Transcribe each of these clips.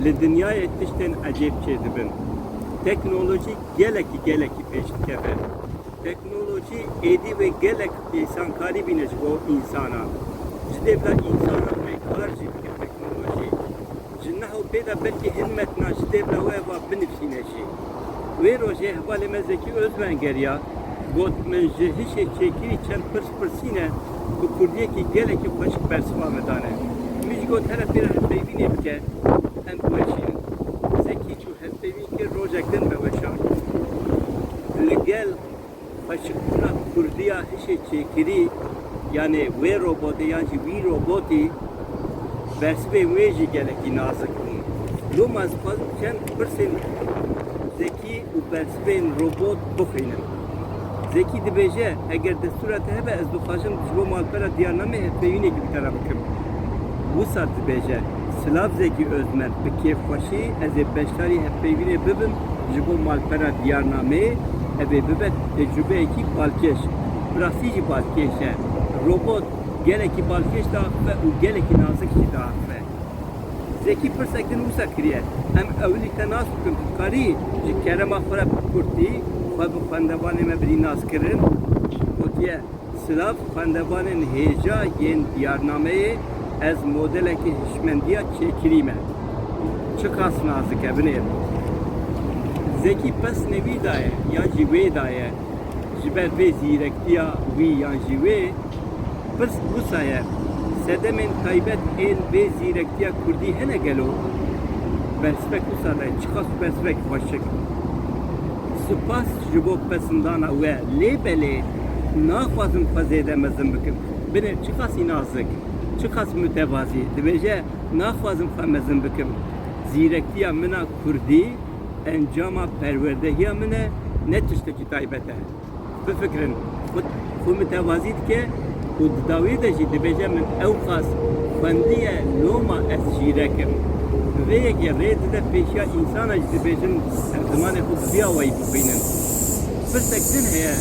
Li dinyayê tiştên ecêb çêdibin. Teknolojî gelekî gelekî pêş dikeve. Teknolojî êdî wê gelek îsankarî bîne ji bo însanan. Ji dê bila însanan vê kar jî bike teknolojî. Ji niha pê de belkî hin metna ji têvla we va binivîsîne jî. Wê rojê hevalê me Zekî Ozmen geriya, got, Min ji hişê çêkirî çend pirs pirsîne bi kurdiyekî gelekî xweşik bersiva me dane. Min jî got here pê re hevpeyvînê bike em biweşînin. Zekî çû hevpeyvîn kir rojek din me weşand. Li gel Xweşikbûna kurdîya hişê çêkirî yanê wê robotê yan jî wî robotî bersivên wê jî gelekî nazik bûn. Loma ez dixwazim çend pirsên Zekî û bersivên robot bixwînim. Zekî dibêje, Eger destûra te hebe ez dixwajim ji bo malpera Diyarnameyê hevpeyvînekî bi te re bikim. Wisa dibêje. Silav Zeki Özmen, Bi kêfxweşî ez ê beşdarî hevpeyvînê bibim ji bo malpera diyarnameyê, ev ê bibe tecrubeyekî balkêş. Bi rastî jî balkêş e. Robot gelekî balkêş diaxive û gelekî nazik jî diaxive. Zeki pirsek din wisa kiriye, Em ewilî te nas bikin tu dikarî ji kerema xwe re bi kurtî xwe bi xwendevanê me birî nas kirin? Gotiye. Silav xwendevanên hêja yên diyarnameyê Ez modelekî hişmendiya çêkirî me. Çiqas nazik e binêrin. Zekî pesnê wî daye yan jî wê daye ji ber vê zîrektiya wî yan jî wê? Pirs wisa ye, sedemên taybet ên vê zîrektiya kurdî hene gelo? Bersivek wisa daye, çiqas bersivek xweşik. Sipas ji bo pesndana we lê belê. Naxwazim xwe zêde mezin bikim. Binê çiqasî nazik, çiqas mutevazî dibêje naxwazim xwe mezin bikim. Zîrekiya min a kurdî encama perwerdehiya min e ne tiştekî taybet e. Bifikirin, xwed xwe mutevazî dike û di dawî de jî dibêje min ewqas xwendiye loma ez zîrek im. Bi vê yekê rê dide pêşiya însanan jî dibêjin zimanê xwe bi vî awayî bixwînin. Pirsek din heye,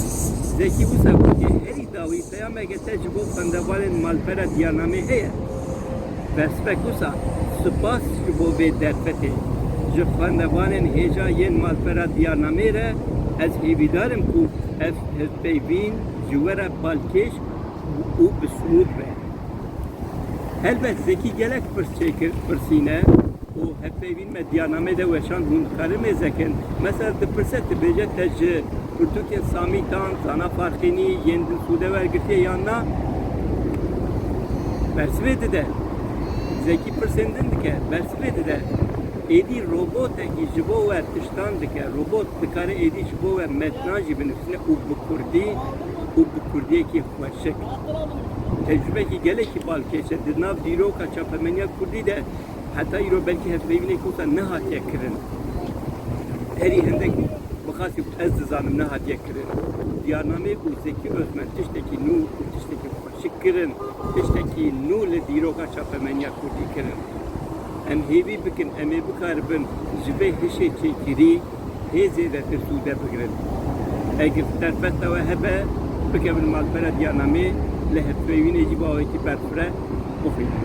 Zekî wisa gotiye, Herî dawî peyameke te ji bo xwendevanên malpera Diyarnamê heye? Berspek wisa, Spas ji bo vê derfetê. Ji xwendevanên hêja yên malpera Diyarnamê re ez hêvîdar im ku ev hevpeyvîn ji we re balkêş û bi sûd be. Helbet Zekî gelek pirs çêkir, pirsîne û hevpeyvîn. Me diyarnameyê de weşand hûn dikarin vê zekin. Mesela dipirse dibêje te ji pirtûkên Samî Dan, Zana Farxînî, Yên Dil Xûde wergirtiye yan na? Bersivê dide. Zekî pirsên din dike, bersivê dide. Êdî robotekî ji bo we tiştan dike. Robot dikare êdî ji bo we metnan jî binivîsîne û bi kurdî û bi kurdiyekî xweşik. Tecrûbekî gelekî balkêş e. Di nav dîroka çapemeniya kurdî de heta îro belkî hevpeyvînê kota nehatiye kirin. Herî hindek bi xasî ku ez dizanim nehatiye kirin. Diyarnameyê ku Zekî Ozmen tiştekî nû û tiştekî xweşik kirin, tiştekî nû li dîroka çapemeniya kurdî kirin. Em hêvî bikin em ê bikaribin ji vê hişê çêkirî hê zêdetir sûde bigirin. Eger derbesta we hebe, bikevin malpera diyarnameyê, lê hevpeyvînê jî bi awayekî berxwire bixwînin.